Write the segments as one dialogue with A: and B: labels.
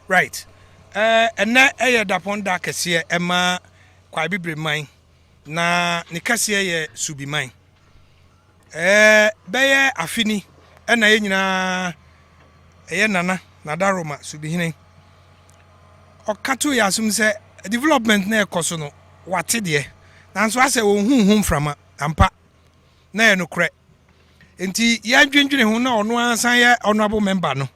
A: Right eh, ɛnnɛ ɛyɛ dapɔn da kɛseɛ ɛma Kwae Bibire man na ne kɛseɛ yɛ Subi man. Eh, bɛyɛ afe ni ɛna yɛn nyinaa ɛyɛ Nana Nadaroma Subihene ɔka to yɛ asom sɛ development na ɛkɔ so no wate deɛ nanso asɛ ɔnhu ho mframa ampa. na ɛyɛ nokorɛ. Enti yɛndwendwene ho na ɔno ara san yɛ honourable member no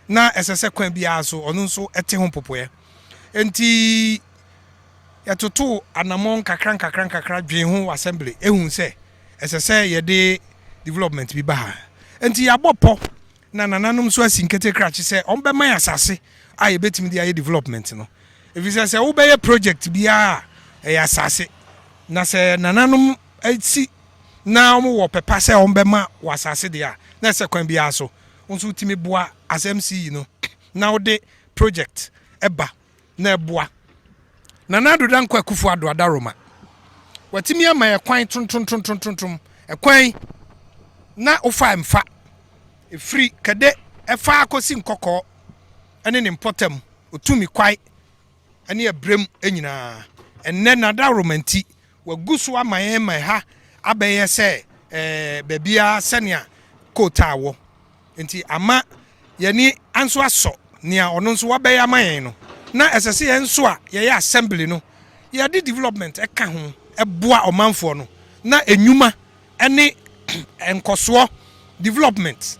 A: na ɛsɛ sɛ kwan biara so ɔno nso te ho mpopoeɛ. Enti yɛtotoo anammɔn nkakra nkakra nkakra dwen ho wɔ assembly ehu sɛ ɛsɛ sɛ yɛde development bi ba ha. Enti yɛabɔ pɔ na nananom nso asi nkete krakye sɛ wɔbɛma yɛn asase a yɛbɛtumi de ayɛ development no. Ɛfiri sɛ sɛ wobɛyɛ project biara a ɛyɛ asase na sɛ nananom si na wɔwɔ ɔpɛ pa sɛ wɔbɛma wo asase deɛ a, na ɛsɛ kwan biara so wo nso wotumi boa as MCE no na wode project ba na ɛboa. Nana Addo Dankwa Akufo Addo Adaroma, watumi ama yɛ kwan trontrontrontrontrom, ɛkwan na wofa mfa ɛfiri Kɛde ɛfa akɔsi Nkɔkɔɔ ne ne mpɔtam, ɔtumi kwae. ne ɛberɛm nyinaa. Ɛnnɛ, n'adaworoma nti, wagu so ama yɛn ma ɛha abɛyɛ sɛ eh, baabiara sɛnea kootaa wɔ. Nti ama yɛni nso asɔ nea ɔno nso wabɛyɛ ama yɛn no. Na ɛsɛ sɛ yɛn nso a yɛyɛ assembly no, yɛde development ɛka ho ɛboa ɔmanfoɔ no na enyuma ne nkɔsoɔ, development,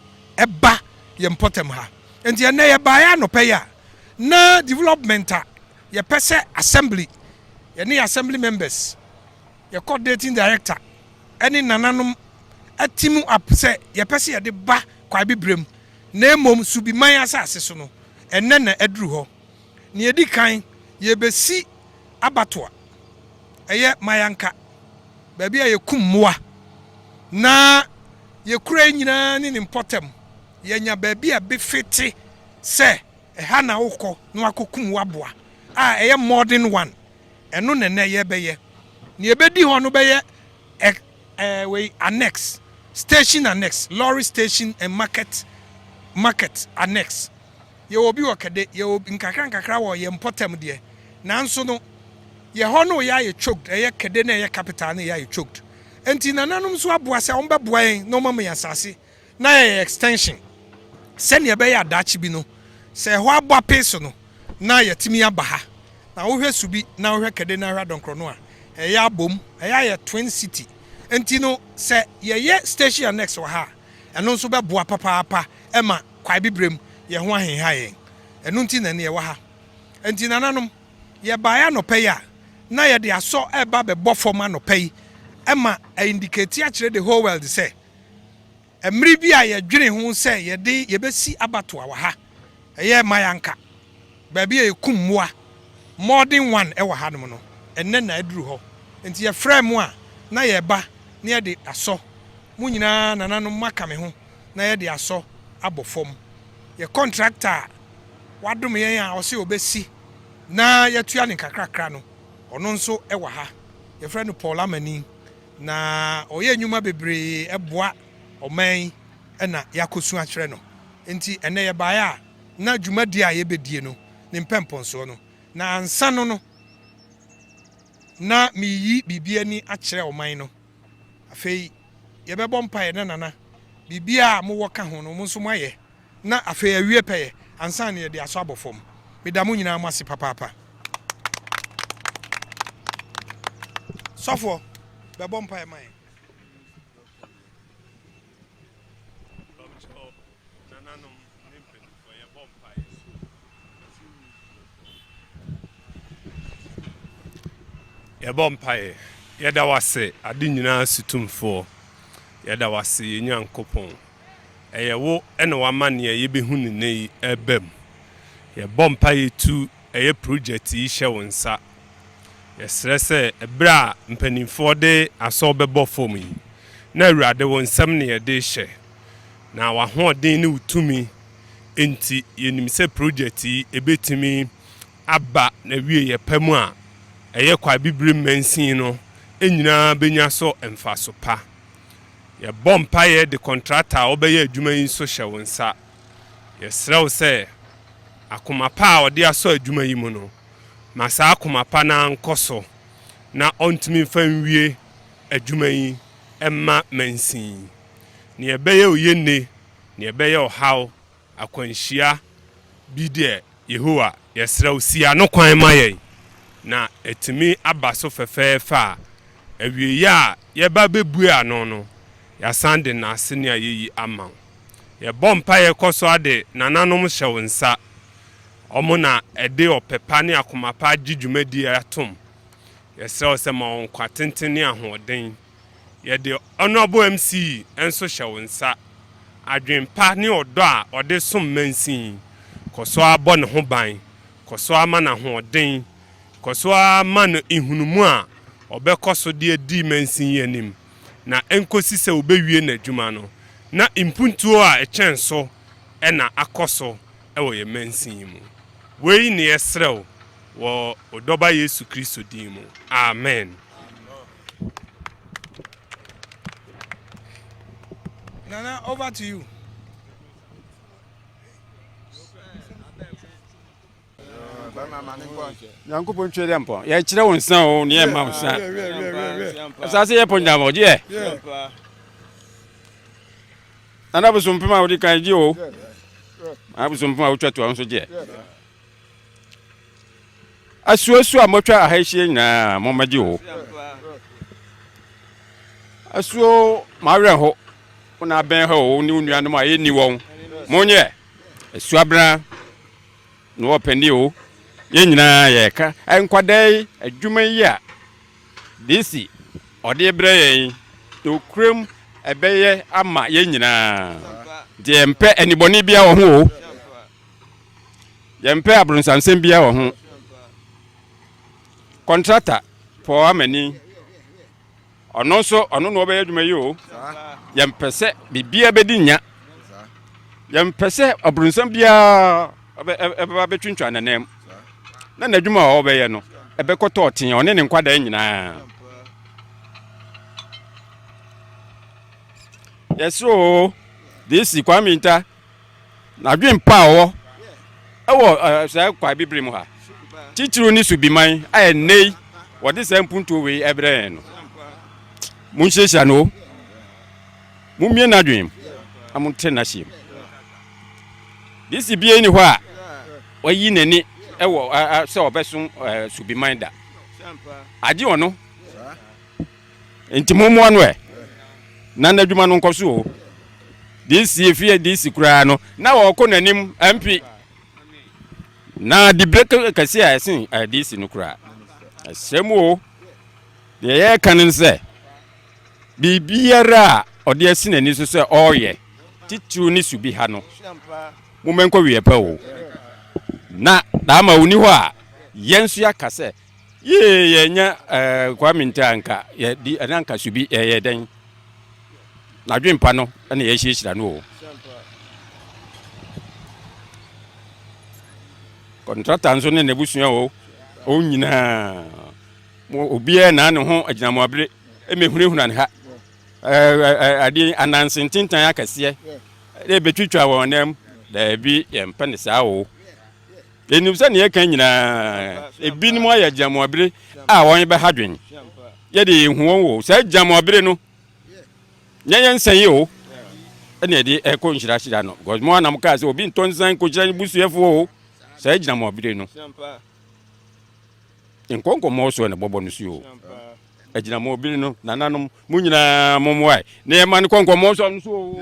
A: ba yɛn mpɔtam ha. Nti ɛnnɛ yɛbaeɛ anɔpa yi a, na development a yɛpɛ sɛ assembly, yɛne yɛn assembly members, yɛ coordinating director ne nananom team up sɛ yɛpɛ sɛ yɛde ba Kwae Bibrem na mmom Subiman asase so no, ɛnnɛ na aduru hɔ. Nea edi kan, yebesi abatoa. Ɛyɛ Mayanka, baabi a yekum mmoa na yekura yɛn nyinaa ne ne mpɔtam. Yɛanya baabi a befe te sɛ ɛha na wokɔ na woakokum w'aboa a ɛyɛ modern one. Ɛno na nnɛ yɛrebɛyɛ. Nea ebedi hɔ no bɛyɛ ɛ, ɛ, wei annex, station annex, lorry station and market, market annex. Yɛwɔ bi wɔ kɛde, yɛwɔ bi nkakra nkakra wɔ yɛn mpɔtam deɛ, nanso no, yɛ hɔ no yɛ ayɛ choked, ɛyɛ kɛde na ɛyɛ capital no yɛ ayɛ choked. Ɛnti nananom nso aboa sɛ wɔn bɛboa yɛn na wɔn ama yɛn asase na yɛyɛ extension sɛdeɛ ɛbɛyɛ a daakye bi no sɛ ɛhɔ abɔ apee so no na yɛatumi aba ha. Na wo hwɛ Subi na wo hwɛ kɛde na hwɛ Adɔnkorɔ no a, ɛyɛ abom, ɛyɛ ayɛ twin city. Ɛnti no sɛ yɛyɛ station annex wɔ ha a, ɛno nso bɛboa papaapa ma. Kwaebibrem, yɛn ho ahenha yɛn. Ɛno nti na nnɛ yɛwɔ ha. Enti nananom, yɛbaeɛ anɔpa yi a, na yɛde asɔ reba abɛbɔ fam anɔpa yi ma aindiketi akyerɛ the whole world sɛ, mmere bi a yɛdwene ho sɛ yɛde yɛbɛsi abatoa wɔ ha, ɛyɛ mma yɛanka. Baabi a yɛkum mmoa, modern one wɔ ha nom no, ɛnnɛ na aduru hɔ. Nti yɛfrɛɛ mo a na yɛreba na yɛde asɔ mo nyinaa, nananom moaka me ho, na yɛde asɔ abɔ fam. Yɛ kɔntrakta a wadom yɛn a ɔse ɔbɛsi na yɛatua no nkakrakra no, ɔno nso wɔ ha. Yɛfrɛ no Paul Amani, na ɔyɛ nnwuma bebree boa ɔman yi na yɛakɔsu akyerɛ no. Nti ɛnnɛ yɛbaeɛ a. na dwumadi a yɛbɛdie no ne mpɛmpɔnsoɔ no, na ansa no no na mereyi biribi ani akyerɛ ɔman no. Afei yɛbɛbɔ mpaeɛ na Nana, biribi a mowɔ ka ho no mo nso moayɛ na afei awie pɛyɛ ansa na yɛde asɔ abɔ fam. Meda mo nyinaa mo ase papaapa. Sɔfoɔ, bɛbɔ mpaeɛ ma yɛn. Nananom ne mpanyimfoɔ, yɛbɔ mpaeɛ so ɛfiri mu bio. Yɛbɔ mpaeɛ. Yɛda w'ase, ade nyinaa so tumfoɔ. Yɛda w'ase, yɛn Nyankopɔn. Ɛyɛ wo na wama nea yɛbɛhu no nnɛ yi reba mu. Yɛbɔ mpaeɛ tu ɛyɛ projɛte yi hyɛ wo nsa. Yɛsrɛ sɛ ɛberɛ a mpanyimfoɔ de asɔw bɛbɔ fam yi, na Awurade wo nsam na yɛde rehyɛ. Na w'ahoɔden ne wo tumi nti, yɛnim sɛ projɛt yi ɛbɛtumi aba n'awieɛ pa mu a ɛyɛ kwa abibire mansin no nyinaa bɛnya so mfaso pa. Yɛbɔ mpaeɛ de kɔntrata a wobɛyɛ adwuma yi nso hyɛ wo nsa. Yɛsrɛ wo sɛ, akoma pa a ɔde asɔ adwuma yi mu no, ma saa akoma pa no ara nkɔ so na ɔntumi mfa nwie adwuma yi mma mansin yi. Nea ɛbɛyɛ oye nne, nea ɛbɛyɛ ɔhaw, akwanhyia, bi deɛ, Yehowa, yɛsrɛ wo, si ano kwan ma yɛn, na atumi aba so fɛfɛɛfɛ a, awieeɛ a yɛba bɛbue ano no, yɛasan de nnase ne ayeyi ama wo. Yɛbɔ mpaeɛ kɔ so ara de nananom hyɛ wo nsa, wɔn na ɛde ɔpɛ pa ne akoma pa agye dwumadie yi atom. Yɛsrɛ wo sɛ ma wɔn nkwa tenten ne ahoɔden. Yɛde Honourable MC nso hyɛ wo nsa. Adwene pa ne ɔdɔ a ɔde som mansin. Kɔ so ara bɔ ne ho ban. Kɔ so ara ma no ahoɔden. Kɔ so ara ma no nhunumu a ɔbɛkɔ so de adi mansin yi anim na ɛnkɔsi sɛ wɔbɛwie n'adwuma no na mpuntuo a ɛkyɛn so na akɔ so wɔ yɛn mansin yi mu. Wei na yɛsrɛ wo wɔ wo Dɔba Yesu Kristo din mu. Amen. Nana, over to you. nyankopɔn twɛ dɛ mpɔ yɛkyerɛ wo nsa o ne yɛma wo sa asase yɛ pɔ nyama ɔgye yɛ nana bosompem a wode kan gye o abosompem a wotwa toa wo nso gyeɛ Asuasu a motwa aha ahyia nyinaa, mommɛgye o. Asuo mawerɛ ho, wo na abɛn ha o, ne wo nuanom a yɛnni wɔn. Monyɛ asuabena na wɔpɛni o. Yɛn nyinaa yɛka nkwadaa yi adwuma yi a DC ɔde brɛ yɛn nokorɛm ɛbɛyɛ ama yɛn nyinaa. Deɛ mpɛ anibɔne biara wɔ ho o. Yɛmpɛ abronsansɛm biara wɔ ho. Kɔntrata Paul Amani, ɔno nso ɔno na ɔbɛyɛ adwuma yi o. Yɛmpɛ sɛ biribiara bɛdi nya. Yɛmpɛ sɛ abronsan biara ɛbɛba bɛtwintwa nanam na n'adwuma a ɔbɛyɛ no ɛbɛkɔtɔ ɔtee ɔne ne nkwadaa nyinaa. Yɛsoro DC Kwame Nta N'adwen pa a ɔwɔ wɔ saa kwae bibire mu ha titiriw ne subiman a ɛnnɛyi wɔde saa mpuntuo wei ɛbrɛ yɛn no. Monhyiahyia no o. Mommie n'adwen mu na monte n'aseɛ mu. DC bie ni hɔ a wayi n'ani wɔ sɛ ɔbɛsom subiman da. Agye ɔno. Nti mommoa no ɛ, na n'adwuma no nkɔ so o. DC fi DC koraa no, na ɔrekɔ n'anim MP. Na debate kɛse a ɛsen eh, DC no koraa. Ɛsɛ mu o. Deɛ yɛreka no sɛ, biribiara a ɔde asi n'ani so sɛ ɔreyɛ, titiriw ne su bi ha no, mommɛnkɔ wieɛ pɛ o. Na daama ɔnni hɔ a, yɛn nso yɛaka sɛ, Yie yɛ nyɛ ɛɛ Kwame nti anka yɛ di ɛna anka so bi yɛ yɛ dɛn. N'adwene pa no ɛna yɛ hyira hyira no o. Kɔntrata nso ne n'abusua o. Wɔn nyinaa mo obiara na ne ho agyina mo abere ɛmɛ hunahuna ne ha. Ɛɛ adeɛ anansi ntintan akɛseɛ ɛbɛtwitwa wɔn nan mu. Daabi yɛn pɛ ne saa o. Yenim sɛ nea yɛka nyinaa, ebinom ayɛ gyamabere a wɔbɛha dwen. Yɛde yɛn hu wɔn wɔ saa gyamabere no, nyɛ yɛn nsa yi o, ɛna yɛde ɛrekɔ nhyirahyira no. Because mo anam kaa sɛ obi ntɔ nsa nkokyira ne busuafo o, saa gyamabere no. Nkɔ nkɔmmɔ so ɛna bɔbɔ no so o. Agyinamɔbere no, nananom, mo nyinaa mo mmoa na yɛma no kɔ nkɔmmɔ so no so o.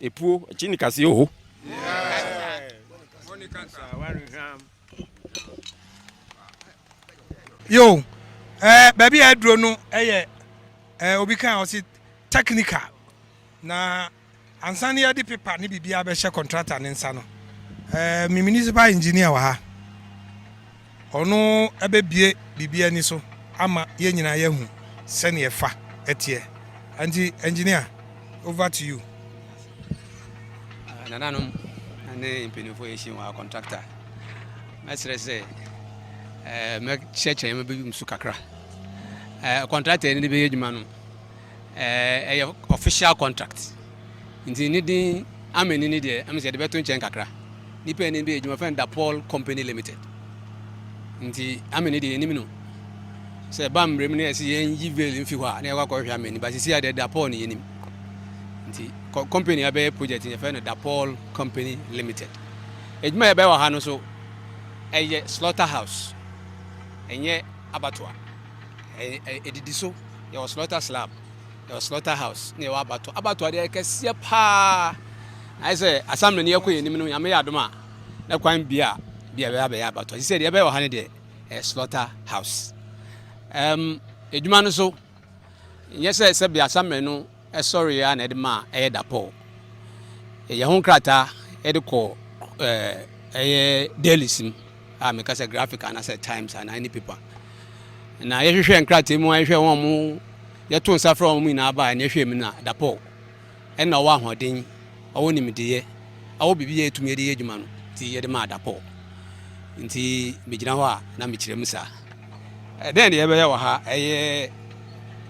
A: Epuo, ekyi ni kasi oho. Yo, eh, baabi a aduro no yɛ eh, obi kan ɔsi technical na ansa no yɛde pepa ne biribiara bɛhyɛ contractor ne nsa no eh, me municipal engineer wɔ ha Ɔno bɛbue biribi ani so ama yɛn nyinaa yɛahu sɛdeɛ ɛfa teɛ. Nti Engineer, over to you. Nananom ne mpanimfoɔ yɛhyia mu a contractor mɛsrɛ sɛ mɛkyerɛkyerɛ mɛbɛyi mu so kakra. Contractor no de bɛyɛ adwuma no ɛyɛ official contract nti ne din ama nini deɛ ɛm sɛ yɛde bɛto nkyɛn kakra nipa anim bi adwuma fɛn da paul company limited nti ama ni deɛ yɛnim no sɛ ɛba mmerɛ mu na yɛsi yɛn yi veil mfi hɔ a na yɛkɔ akɔhwɛ ama ni ba sisi a deɛ da paul ne yɛnim nti company abɛyɛ project yɛfɛ no da paul company limited adwuma yɛbɛyɛ wɔ ha no so ɛyɛ slaughter house ɛnyɛ abatoa Ɛdidi so, yɛwɔ slaughter slab, yɛwɔ slaughter house, na yɛwɔ abatɔ. Abatɔ adeɛ kɛseɛ paa. Ayɛ sɛ asamina ni ɛkɔ yɛn anim no, nyame yɛ adom a, na kwan bi a bi a ɛbɛyɛ abɛyɛ abatɔ. Sisi deɛ ɛbɛyɛ wɔ ha no deɛ, ɛyɛ slaughter house. Um, edwuma no so, nyɛ sɛ sɛ bi asamina no sɔreeɛ ara na ɛde maa ɛyɛ dapɔw. Yɛyɛ ho nkrataa de kɔ ɛyɛ dailies mu a meka sɛ graphic anaasɛ times anaa any paper. Na yɛhwehwɛ nkrataa mu a yɛhwɛ wɔn mo yɛto nsa frɛ wɔn nyinaa baa ɛne ɛhwɛ mu na dapɔw ɛna ɔwɔ ahoɔden ɔwɔ nimdeɛ ɔwɔ biribi yɛ yɛtumi de yɛ adwuma no nti yɛde maa dapɔw nti megyina hɔ a na mekyerɛ mu saa. Ɛdɛn na yɛbɛyɛ wɔ ha? Ɛyɛ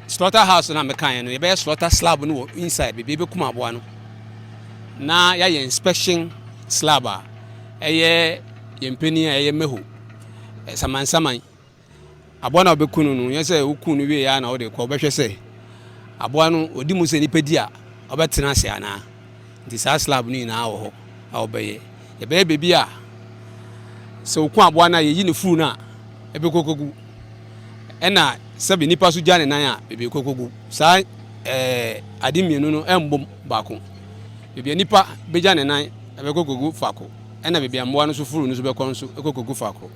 A: slaughter house na mekaeɛ no. Yɛbɛyɛ slaughter slab no wɔ inside baabi yɛbɛkum aboa no na yɛayɛ inspection slab a ɛyɛ yɛn panin a ɛyɛ mɛho samansaman aboa no a wobɛku no no nyɛ sɛ woku no wieɛ a na wode kɔ wobɛhwɛ sɛ aboa no ɔdi mu sɛ nipa di a ɔbɛtena ase anaa Nti saa slab no nyinaa wɔ hɔ a wɔbɛyɛ. Yɛbɛyɛ baabi a sɛ wɔku aboa no a, yɛyi ne furu no a, ɛbɛkɔ kɔgu. Ɛna sɛbe nnipa nso gya ne nan a, baabi ɛkɔ kɔgu. Saa ɛɛ ade mmienu no ɛmbom baako. Baabi a nipa bɛgya ne nan ɛbɛkɔ kɔgu faako. Ɛna baabi a mmoa no nso furu no nso bɛkɔ nso ɛkɔ kɔgu faako.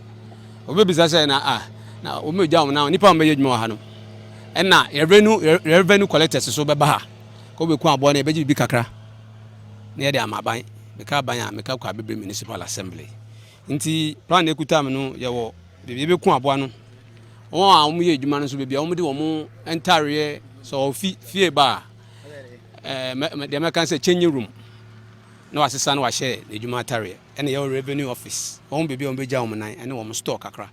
A: Wɔbɛbisa sɛ na a na wɔmɛgya wɔn nan, nnipa a wɔbɛyɛ adwuma wɔ ha no, ɛna revenue revenue collectors nso bɛba ha. Kɔbɛku aboa no, yɛbɛgye biribi kakra na yɛde ama aban. Meka aban a, meka Kwaabebire Municipal Assembly. Nti plan a ɛkuta me no, yɛwɔ baabi yɛbɛku aboa no. Wɔn a wɔyɛ adwuma no nso, baabi a wɔde wɔn ntareɛ, sɛ ɔfi fie ba a, ɛɛ deɛ mɛka sɛ changing room na wasesa na wahyɛ n'adwuma atareɛ. Ɛna yɛwɔ revenue office, wɔn baabi a wɔbɛgya wɔn nan ɛne wɔn store kakra.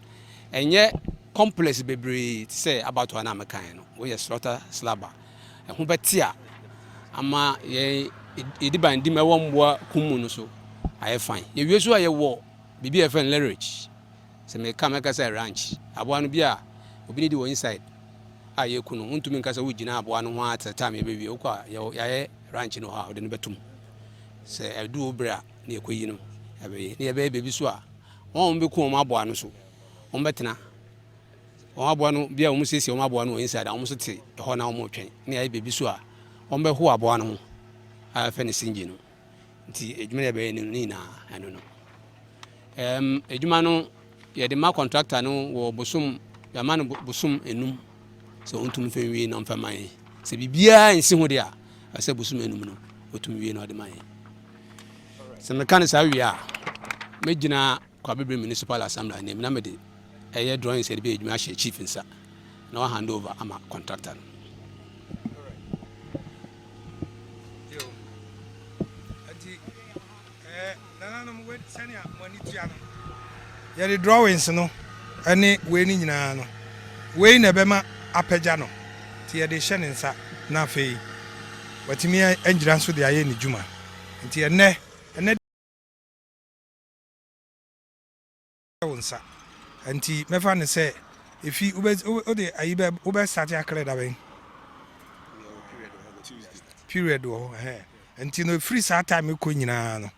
A: Ɛnyɛ complex bebree te sɛ abatoa no a mekaeɛ no, woyɛ slaughter slabber. ɛho bɛtea ama yɛn yɛdi ban di ma ɛwɔ mmoa kum mu no so ayɛ fan yɛwie so a yɛwɔ biribi a yɛfrɛ no leverage sɛ meka mɛka sɛ ranch aboa no bi a obi ne di wɔ inside a yɛku no wontumi nka sɛ wogyina aboa no ho a sɛ tam yɛbɛwie wokɔ a yɛayɛ ranch no hɔ a wode no bɛtom sɛ ɛdu wo berɛ a ne yɛkɔyi no ɛbɛyɛ ne yɛbɛyɛ baabi so a wɔn a wɔbɛku wɔn aboa no so wɔn bɛtena Wɔn aboa no, bia wɔn siesie wɔn aboa no wɔ inside a wɔn nso te hɔ na wɔn retwɛn ne ayɛ baabi so a wɔn bɛho aboa no ho a yɛfɛ no singye no nti adwuma no yɛbɛyɛ no ne nyinaa ɛno no ɛɛm adwuma no yɛde ma contractor no wɔ bosom yɛama no bosom enum sɛ ɔntumi fɛ nwie na ɔmfɛ ma yɛn sɛ biribiara nsi ho de a ɛsɛ bosom enum no ɔtumi wie na ɔde ma yɛn sɛ meka no saa wie a mɛgyina Kwabibri Municipal Assembly anim na mede ɛyɛ drawings a yɛde bɛyɛ adwuma ahyɛ chief nsa na wa hand over ama contractor no. nananom wei sɛnea mo ani tua no yɛde drawings no ne wei no nyinaa no wei na ɛbɛma apagya no nti yɛde hyɛ ne nsa na afei watumi agyina nso de ayɛ ne dwuma nti ɛnɛ ɛnɛ wo nsa nti mɛfa ne sɛ efi wode ayi bɛ wobɛ start akrɛ da bɛn period wɔ hɔ ɛhɛn nti no efiri saa time kɔ nyinaa no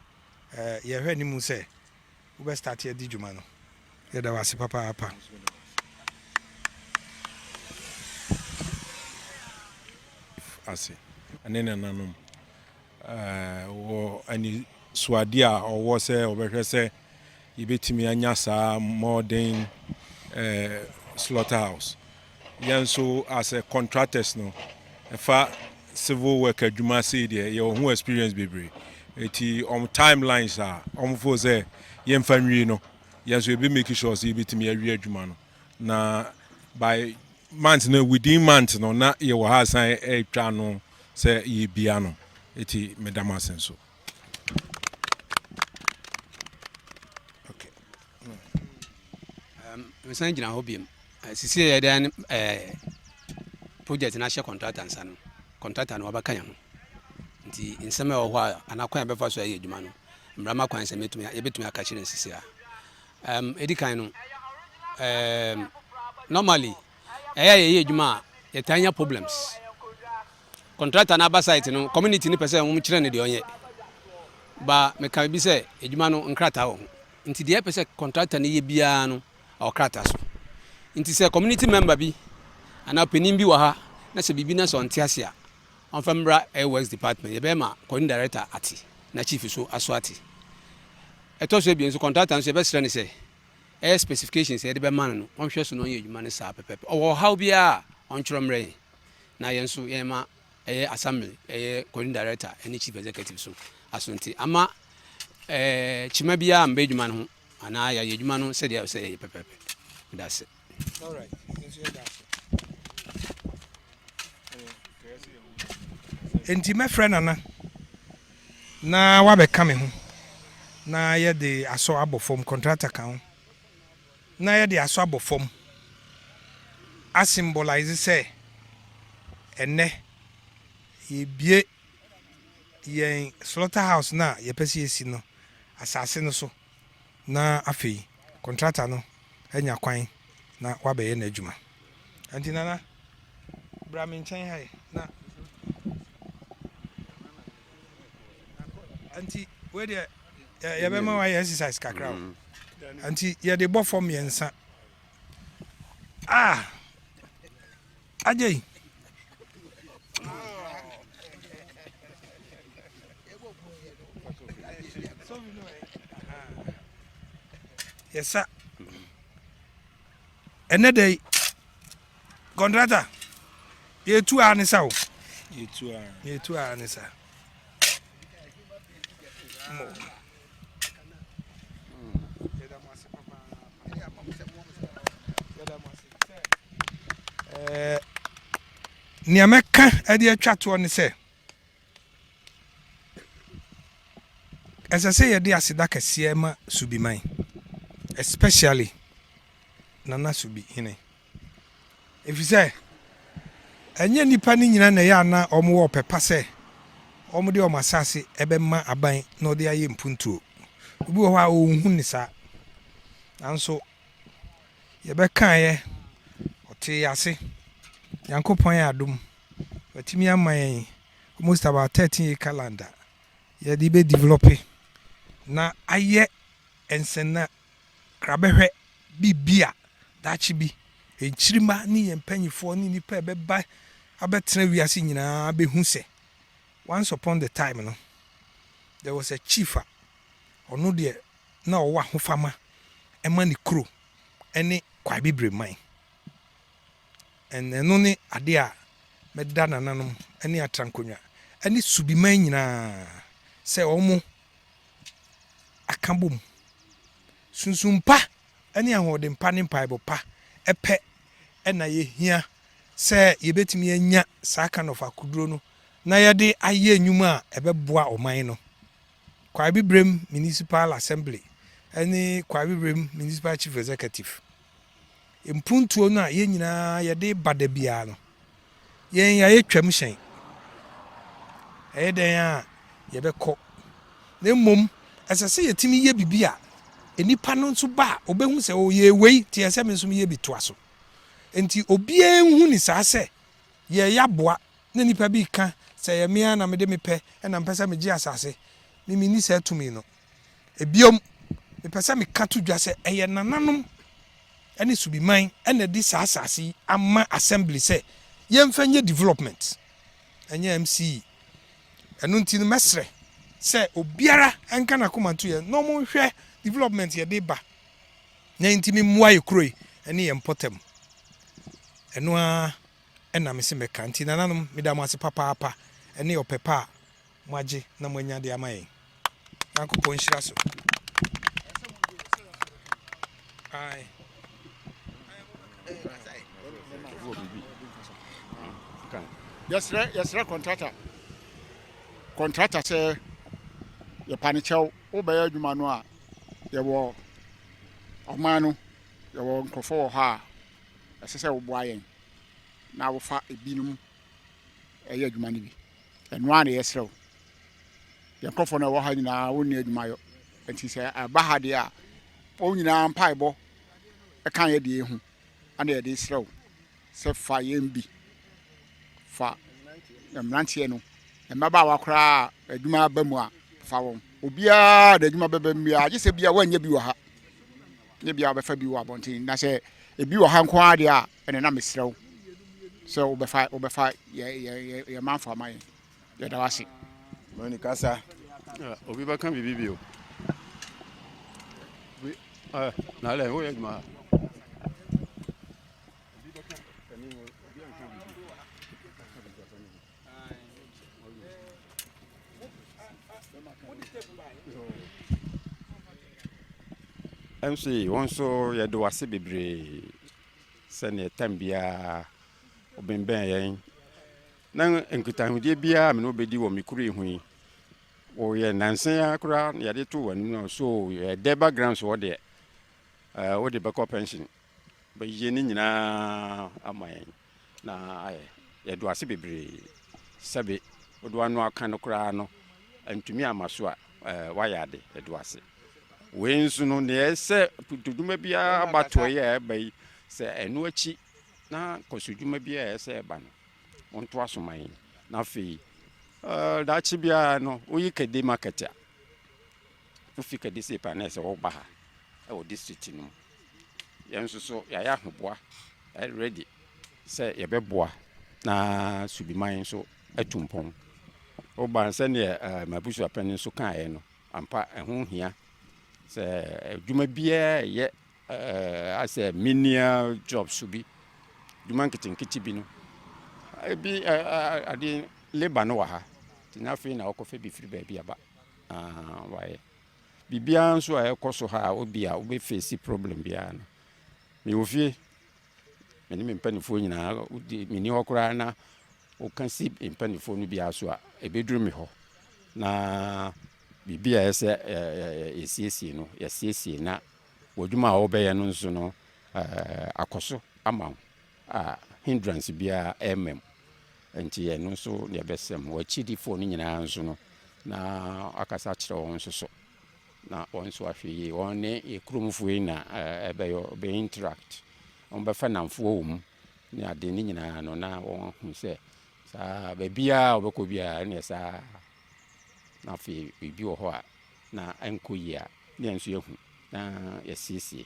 A: ɛɛ yɛhwɛ ne mu sɛ wobɛ start adi dwuma no yɛda wo ase papaapa. ase ɛne nananom Wɔ anisoadeɛ a ɔwɔ sɛ ɔbɛhwɛ sɛ yɛbɛtumi anya saa modern slaughterhouse. Yɛn nso as a contractors no, ɛfa civil work adwuma sei deɛ yɛwɔ ho experience bebree. Eti wɔn timelines a wɔn fo sɛ yɛmfa nwie no, yɛn nso yɛbɛ make sure sɛ yɛbɛtumi awie adwuma no na by month no within month no na yɛwɔ ha asan ɛretwa no. Sɛ ye bia no eti me da mo ase nso. mesan gyina hɔ biom sisi yɛ dɛn ɛɛ project no ahyɛ contractor nsa no contractor no wabɛka yɛn ho nti nsɛm a ɛwɔ hɔ a anaa kwan a ɛbɛfa so ayɛ adwuma no mmara ma kwan sɛ mɛtumi yɛbɛtumi aka kyerɛ nsisi a ɛm ɛdi kan no ɛɛm normally ɛyɛ a yɛyɛ adwuma a yɛtaa nya problems. Contractor no aba site no community no pɛ sɛ wɔn kyerɛ no deɛ ɔnyɛ. Ba meka bi sɛ adwuma no nkrataa wɔ ho. Nti deɛ ɛpɛ sɛ contractor no yɛ biara no ɛwɔ krataa so. Nti sɛ community member bi anaa panin bi wɔ ha na sɛ biribi na sɛ ɔnte ase a ɔmfa mmra ɛyɛ works department yɛbɛyɛ ma coordinating director ate na chief so aso ate. Ɛtɔ so ebien nso contractor nso yɛbɛsrɛ no sɛ Ɛyɛ specifications a yɛde bɛma no no, ɔnhwɛ so na ɔnyɛ adwuma no saa pɛpɛɛpɛ. Ɔwɔ ɔhaw biara a, ɔntwerɛ mmrɛ yɛn, na yɛn nso yɛma ɛyɛ Assembly, ɛyɛ Coordinating Director ne Chief Executive so asonte ama kyima biara ammba adwuma no ho anaa yɛayɛ adwuma no sɛdeɛ ɛwɔ sɛ yɛyɛ pɛpɛɛpɛ. Meda ase. Enti mɛfrɛ Nana. Na wabɛka me ho na yɛde asɔ abɔ fam, contractor ka ho na yɛde asɔ abɔ fam a symbolise sɛ ɛnnɛ yɛrebue yɛn slaughterhouse no a yɛpɛ sɛ yɛsi no asase no so. na afei kɔntrata no anya kwan na wabɛyɛ n'adwuma. Ɛnti Nana, bra me nkyɛn ha yi na ɛnti wei deɛ yɛbɛma wayɛ exercise kakra o. Mm. nti yɛde bɔ fam mmiɛnsa ah Agyei. yɛsa ɛnɛ dɛ kɔntrata yɛtu a ne sa o yɛtu a ne sa nea mɛka de atwa toɔ ne sɛ ɛsɛ sɛ yɛde aseda kɛseɛ ma subiman especially nana subi hene Efisɛ ɛnyɛ nnipa no nyinaa na ɛyɛ a na wɔwɔ ɔpɛ pa sɛ wɔde wɔn asase bɛma aban na wɔde ayɛ mpuntuo. Obi wɔ hɔ a ɔnhu ne saa. Nanso yɛbɛkaeɛ, ɔtee yɛn ase. Nyankopɔn yɛ adom. Watumi ama yɛn almost about 13 acre land a yɛde bɛdevelɔpe na ayɛ nsɛnna Kra bɛhwɛ biribi a daakye bi yɛn nkyirimma ne yɛn mpanimfoɔ ne nnipa a ɛbɛba abɛtena wiase nyinaa bɛhu sɛ once upon the time no, there was a chief a ɔno deɛ na ɔwɔ ahofama ma ne kuro ne Kwai Bibire man. And ɛno ne adeɛ a mɛda nananom ne Atrankonwa ne Subiman nyinaa sɛ wɔn aka bom. Sunsum pa ne ahoɔden pa ne mpaebɔ pa pɛ na yɛhia sɛ yɛbɛtumi anya saa kind of akoduro no na yɛde ayɛ nnwuma a ɛbɛboa ɔman no. Kwaebibrem Municipal Assembly ne Kwaebibrem Municipal Chief Executive. Mpuntuo no a yɛn nyinaa yɛde ba da biara no, yɛn yɛayɛ twam hyɛn. Ɛyɛ dɛn a yɛbɛkɔ. Na mmom, ɛsɛ sɛ yɛtumi yɛ biribi a nnipa no nso ba a ɔbɛhu sɛ ɔyɛ oh, wei nti ɛsɛ sɛ me nso meyɛ bi toa so. Nti obiara nhu ne saa sɛ yɛyɛ aboa na nnipa bi ka sɛ ɛyɛ me ara na mede mepɛ na mpɛ sɛ megye asase. Me menni saa tumi no. Bio, mepɛ sɛ meka to dwa sɛ ɛyɛ nananom ne Subiman na ɛde saa asase yi ama Assembly sɛ yɛmfa nyɛ development, ɛnyɛ MCE. Ɛno nti no, mɛsrɛ sɛ obiara nka n'akoma nto yɛn na wɔnhwɛ development yɛde reba na enti memmoa yɛ kuro yi ne yɛn mpɔtam. Ɛno ara na mese mɛka. Nti nananom, meda mo ase papaapa ne ɔpɛ pa a Moagye na moanya de ama yɛn. Nyankopɔn nhyira so. Aye. Yɛsrɛ yɛsrɛ kɔntrata kɔntrata sɛ yɛpa ne kyɛw wobɛyɛ adwuma no a yɛwɔ ɔman no yɛwɔ nkurɔfoɔ wɔ hɔ a ɛsɛ sɛ woboa yɛn na wofa ebinom ɛyɛ adwuma no bi. Ɛno ara na yɛsrɛ wo. Yɛn nkurɔfoɔ no a wɔwɔ ha nyinaa, wɔnni adwuma yɔ. Enti sɛ ɛba ha deɛ a, wɔn nyinaa mpaebɔ ka yɛn deɛ hu. Ɛna yɛde resrɛ wo sɛ fa yɛn bi. Fa mmeranteɛ no, mmabaawa koraa a adwuma aba mu a, fa wɔn. Obiara de adwuma bɛba mu biara, gye sɛ bi a wɔanyɛ bi wɔ ha. Nyɛ bi a wɔbɛfa bi wɔ abɔnten. Na sɛ ebi wɔ ha nko ara deɛ a, Ɛnna na mesrɛ wo sɛ wobɛfa wobɛfa yɛn yɛn yɛn manfo ama yɛn. Yɛda wo ase. Mani kasa. Ah, obi bɛka biribi bio. Obi, ah, na alɛ, woyɛ adwuma ha. MC, wɔn nso yɛde wase bebree. Sɛdeɛ tam biara ɔbembɛn yɛn, na nkitahodie biara a me ne wo bɛdi wɔ me kuro yi ho yi, woyɛ nansa yi ara koraa na yɛde too w'anim no so yɛ dɛ background so hɔ deɛ ɛɛ wode bɛkɔ pension bɛyɛ ne nyinaa ama yɛn na ayɛ yɛdo ase bebree sɛbe wode wano aka no koraa no ntumi ama so a ɛɛ wayɛ ade yɛdo ase. Wei nso no, nea ɛyɛ sɛ dwuma biara abatoɔ yɛ a ɛba yi, sɛ ɛno akyi na nkɔso dwuma biara ɛyɛ sɛ ɛba no, wɔntoa so ma yɛn. Na afei, uh, daakye biara no, woyi Kadi market a, wofi Kadi sep a na ɛsɛ wɔba ha ɛwɔ district no mu. Yɛn nso so yɛayɛ ahoboa ready sɛ yɛbɛboa na Subiman nso atu mpɔn. Woba sɛdeɛ uh, eh, mabusuapɛn nso kaeɛ no, Ampa, ɛho hia sɛ adwuma biara a ɛyɛ ayɛ sɛ menial jobs bi, adwuma nketenkete bi no, ebi ade labour no wɔ ha, nti na afei na wɔkɔfa bi firi baabi aba wayɛ. Biribiara nso a ɛkɔ so ha a obi a wobɛfeesi problem biara no, mewɔ fie, me ne me mpanimfoɔ nyinaa, menni hɔ koraa na Woka si mpanimfoɔ no biara so a, ɛbɛduru me hɔ, na biribi a ɛyɛ sɛ yɛsiesie no, yɛasiesie, na w'adwuma a wobɛyɛ no nso no, akɔ so ama wo a hindrance biara ɛmma mu. Nti ɛno nso na ɛbɛsɛ mu. W'akyidifoɔ no nyinaa nso no, na akasa akyerɛ wɔn nso so, na wɔn nso ahwɛ yie. Wɔn ne yɛ kuromfoɔ yi na ɛbɛyɛ, ɔbɛ interact, wɔbɛfa nnamfoɔ wɔ mu. ne ade no nyinaa no na wɔahu sɛ saa baabiara a wɔbɛkɔ biara ɛneɛ saa na afei biribi wɔ hɔ a na ɛnkɔ yie a ne yɛn nso yɛhu na yɛsiesie